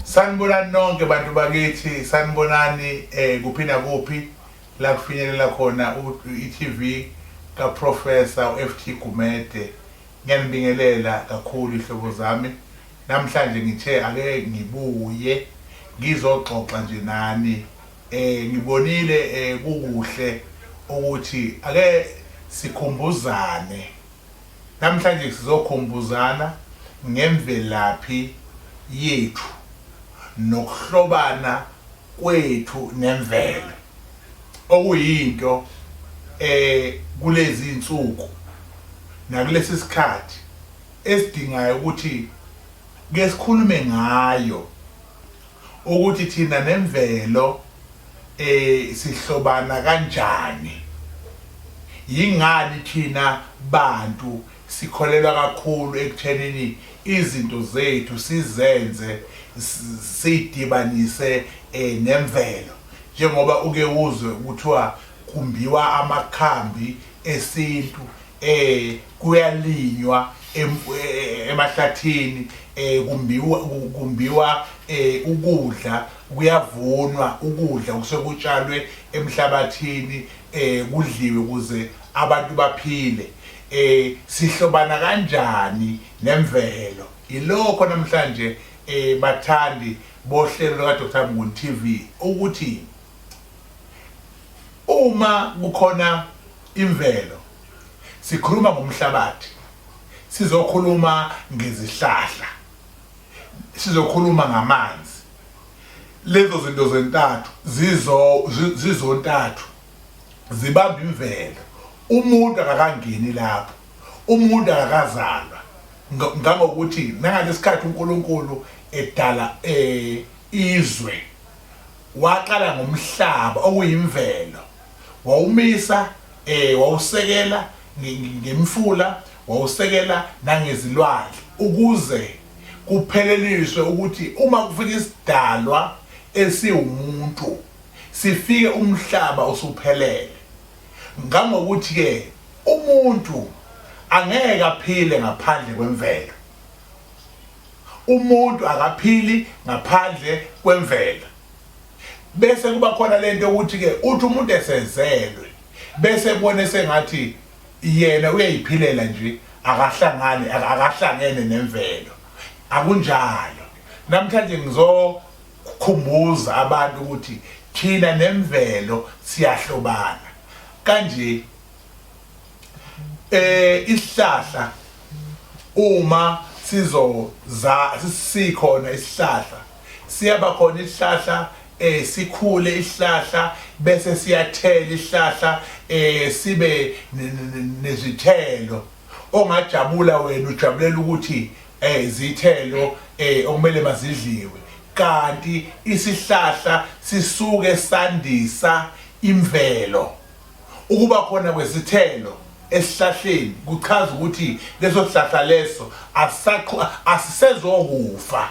Sanibonani nonke bantu bakithi, sanibonani eh kuphi nakuphi la kufinyelela khona i-TV kaProfessor uFT Gumede. Ngiyanibingelela kakhulu ihlobo zami. Namhlanje ngithe ake ngibuye ngizoxoxa nje nani. Eh ngibonile eh kukuhle ukuthi ake sikhumbuzane Namhlanje sizokhumbuzana ngemvelaphi yethu nokuhlobana kwethu nemvelo okuyinto e kulezi nsuku nakulesi sikhathi esidingayo ukuthi ke sikhulume ngayo ukuthi thina nemvelo eh sihlobana kanjani yingani thina bantu sikholelwa kakhulu ekuthenini izinto zethu sizenze sidibanise eh, nemvelo njengoba uke uzwe kuthiwa kumbiwa amakhambi esintu eh kuyalinywa em- eh, emahlathini eh kumbiwa ku- kumbiwa eh ukudla kuyavunwa ukudla kusekutshalwe emhlabathini eh kudliwe ukuze abantu baphile eh sihlobana kanjani nemvelo ilokho namhlanje eh bathandi bohlelo lika Dr Mnguni TV ukuthi uma kukhona Imvelo. Sikhuluma ngomhlabathi. Sizokhuluma ngezihlahla. Sizokhuluma ngamanzi. Lezo zinto zentathu zizo zizontathu zibamba imvelo. Umuntu akakangeni lapho. Umuntu akakazalwa ngangokuthi nangalesikhathi uNkulunkulu edala eh izwe waqala ngomhlaba okuyimvelo wawumisa eh wawusekela ngemfula wawusekela nangezilwandle ukuze kupheleliswe ukuthi uma kufika isidalwa esiwumuntu sifike umhlaba usuphelele ngangokuthi ke umuntu angeke aphile ngaphandle kwemvelo umuntu akaphili ngaphandle kwemvelo bese kuba khona lento ukuthi ke uthi umuntu esezelwe bese kubona sengathi yena uyayiphilela nje akahlangani akahlangene nemvelo akunjalo namhlanje ngizokhumbuza abantu ukuthi thina nemvelo siyahlobana kanje eh isihlahla uma sizoza sikhona isihlahla siyaba khona isihlahla eh sikhule isihlahla bese siyathela isihlahla eh sibe nezithelo ongajabula wena ujabulela ukuthi eh izithelo eh okumele mazidliwe kanti isihlahla sisuke sandisa imvelo Ukuba khona kwesithelo esihlahleni kuchaza ukuthi leso sihlahla leso asisaqhu asisezokufa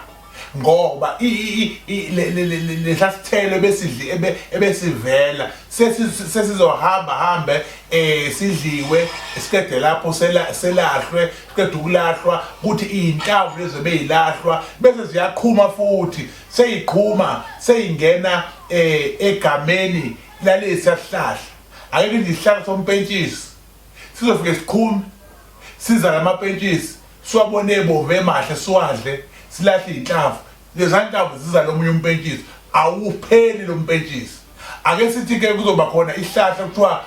ngoba lesasithelo besidli ebesivela sesizohamba hambe um sidliwe siqede lapho selahlwe siqede ukulahlwa kuthi iy'nhlamvu lezo beyilahlwa bese ziyaqhuma futhi seyiqhuma seyingena um egameni Lalesi yasihlahla akekho nje isihlahla sompentshisi sizofike siqhume siza lamapentshisi siwabone ebomvu emahle siwadle silahle iy'nhlamvu lezanhlamvu ziza lomunye umpentshisi awupheli lo mpentshisi ake sithi-ke kuzoba khona isihlahla kuthiwa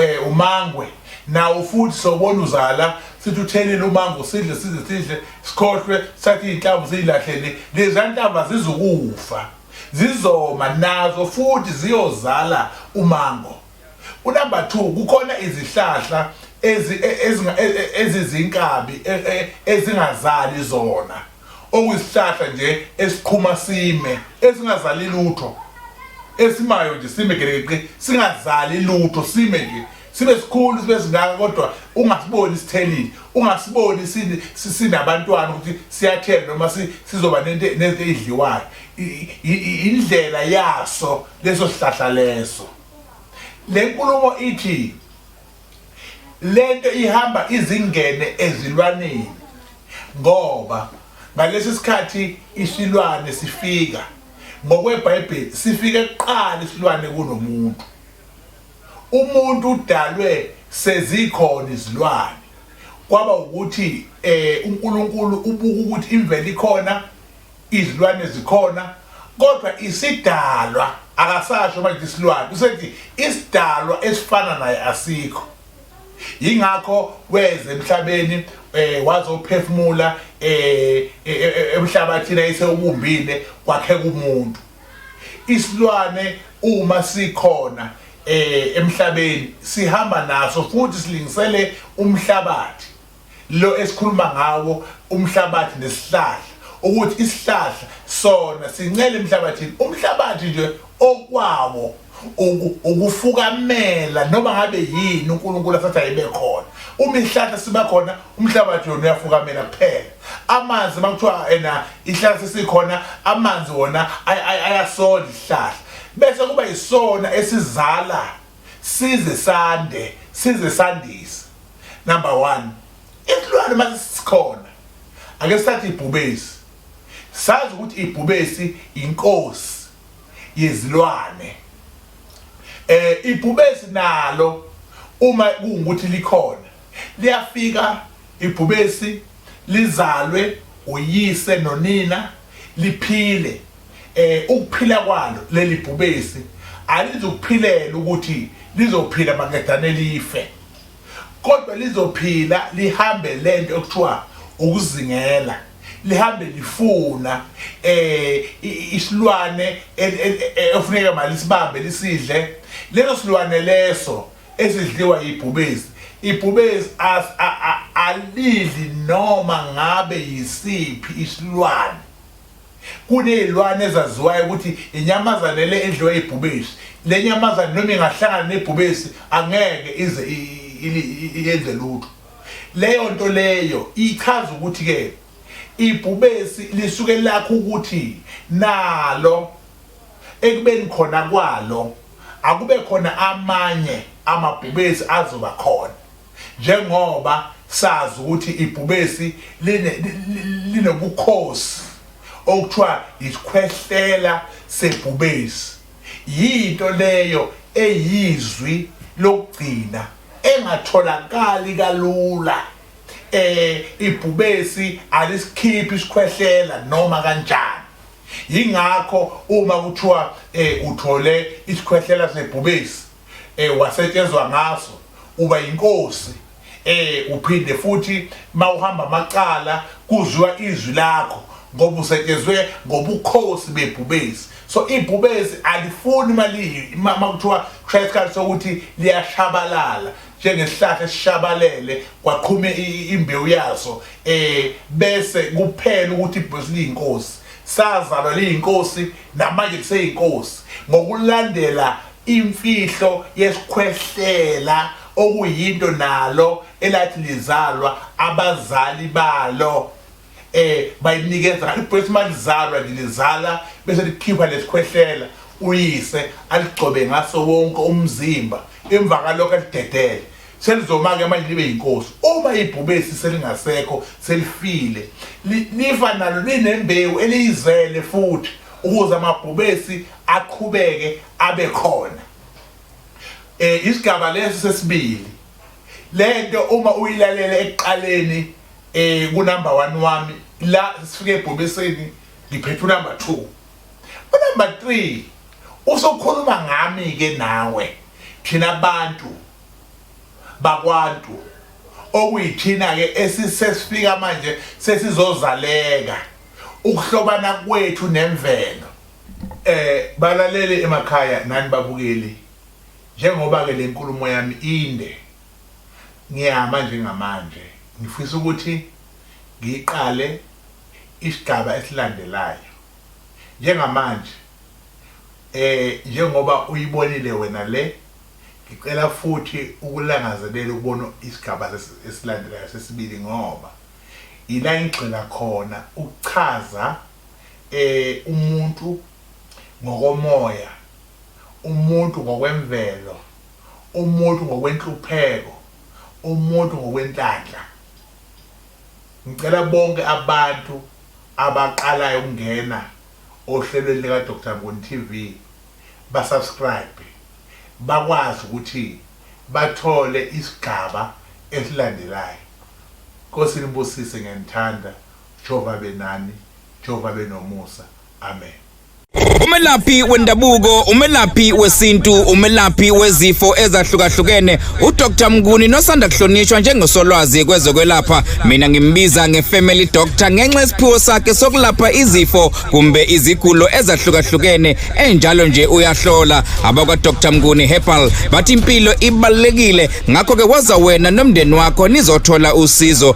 eh, umangwe nawo futhi sobona uzala sithi uthelele umango sidle sidle sidle sikhohlwe sathi iy'nhlamvu siyilahlele lezanhlamvu azizukufa Zizoma nazo futhi ziyozala umango. Unumber two, kukhona izihlahla ezi- e- ezinga- e- e- ezizinkabi e- e- ezingazali zona, okuyisihlahla nje esiqhuma sime, esingazali lutho, esimayo nje sime gelekeqe, singazali lutho, sime nje. sibe sikhulu sibe singaka kodwa ungasiboni sithelile ungasiboni sinabantwana ukuthi siyathela noma sizoba nento eyidliwayo indlela yaso leso sihlahla leso le nkulumo ithi lento ihamba izingene ezilwaneni ngoba ngalesi sikhathi isilwane sifika ngokwebhayibheli sifike kuqala isilwane kunomuntu Umuntu udalwe sezikhona izilwane kwaba ukuthi eh uNkulunkulu ubuka ukuthi imvelo ikhona izilwane zikhona kodwa isidalwa akasasho manje isilwane usethi isidalwa esifana naye asikho yingakho weze emhlabeni eh wazophefumula eh, eh, eh, eh emhlabathini ayisewubumbile kwakheka umuntu Isilwane uma sikhona eh emhlabeni sihamba naso futhi silingisele umhlabathi lo esikhuluma ngawo umhlabathi nesihlahla ukuthi isihlahla sona sincele emhlabathini umhlabathi nje okwawo ukufukamela noma ngabe yini uNkulunkulu asathi ayibe khona uma ihlahla siba khona umhlabathi yona uyafukamela kuphela amanzi makuthiwa ena ihlahla sesikhona amanzi wona ayasola ihlahla bese kuba isona esizala size sande size sandise number 1 isilwane masisikhona ake sathi ibhubesi sazi ukuthi ibhubesi inkosi yezilwane eh ibhubesi nalo uma kungukuthi likhona liyafika ibhubesi lizalwe uyise nonina liphile eh ukuphila kwalo leli bhubesi alizokuphilela ukuthi lizophila makadane life Kodwa lizophila lihambe lento ekuthiwa ukuzingela lihambe lifuna eh isilwane efuneka malisibambe lisidle leso silwane leso esidliwa yibhubesi ibhubesi alidli noma ngabe yisiphi isilwane Kunezilwane ezaziwayo ukuthi inyamazane le edliwa ibhubesi. Le nyamazane noma ingahlangana nebhubesi angeke ize yenze lutho. Leyo nto leyo ichaza ukuthi-ke ibhubesi lisuke lakho ukuthi nalo ekubeni khona kwalo akube khona amanye amabhubesi azoba khona. Njengoba sazi ukuthi ibhubesi linobukhosi okuthiwa yisikhwehlela sebhubesi, yinto leyo eyizwi lokugcina engatholakali kalula. Eh ibhubesi alisikhiphi isikhwehlela noma kanjani. Yingakho uma kuthiwa eh uthole isikhwehlela sebhubesi eh wasetshenzwa ngaso uba yinkosi eh uphinde futhi mawuhamba amacala kuzwa izwi lakho ngoba usetshenzwe ngobukhosi bebhubesi so ibhubesi alifuni imali uma kuthiwa kushaya isikhathi sokuthi liyashabalala njengesihlahla esishabalele kwaqhume imbewu yaso eh bese kuphela ukuthi ibhubesi liyinkosi sazalwa liyinkosi namanje kuseyinkosi ngokulandela Imfihlo yesikhwehlela okuyinto nalo elathi lizalwa abazali balo eh bayinikeza ibhesi malizalwa nje lizala bese likhipha lesikhwehlela uyise aligcobe ngaso wonke umzimba emva kalokho alidedele selizoma-ke manje libe yinkosi uma ibhubesi selingasekho selifile lifa nalo linembewu eliyizele futhi ukuze amabhubesi aqhubeke abe khona eh isigaba lesi sesibili lento uma uyilalela ekuqaleni eh ku number 1 wami la sifike ebhobeseni ngiphethe number 2 u number 3 usokhuluma ngami ke nawe thina abantu bakwantu okuyithina ke esisesifika manje sesizozaleka ukuhlobana kwethu nemvelo Eh balalele emakhaya nani babukeli njengoba ke lenkulumo yami inde ngiyama njengamanje ngifisa ukuthi ngiqale isigaba esilandelayo njengamanje eh njengoba uyibonile wena le ngicela futhi ukulangazelela ukubona isigaba esilandelayo sesibili ngoba ila ngigxila khona ukuchaza umuntu ngokomoya, umuntu ngokwemvelo, umuntu ngokwenhlupheko, umuntu ngokwenhlanhla. Ngicela bonke abantu abaqalayo ukungena ohlelweni lika Doctor Nguni TV ba subscribe bakwazi ukuthi bathole isigaba esilandelayo. Nkosi inibusise ngiyanithanda. Jehova abe nani. Jehova abe nomusa. Amen. Umelaphi wendabuko, umelaphi wesintu, umelaphi wezifo ezahlukahlukene uDr Mnguni nosanda kuhlonishwa njengosolwazi kwezokwelapha. Mina ngimbiza ngefamily doctor ngenxa yesiphiwo sakhe sokulapha izifo kumbe izigulo ezahlukahlukene enjalo nje uyahlola. Abakwa Dr Mnguni Herbal bathi impilo ibalekile ngakho ke waza wena nomndeni wakho nizothola usizo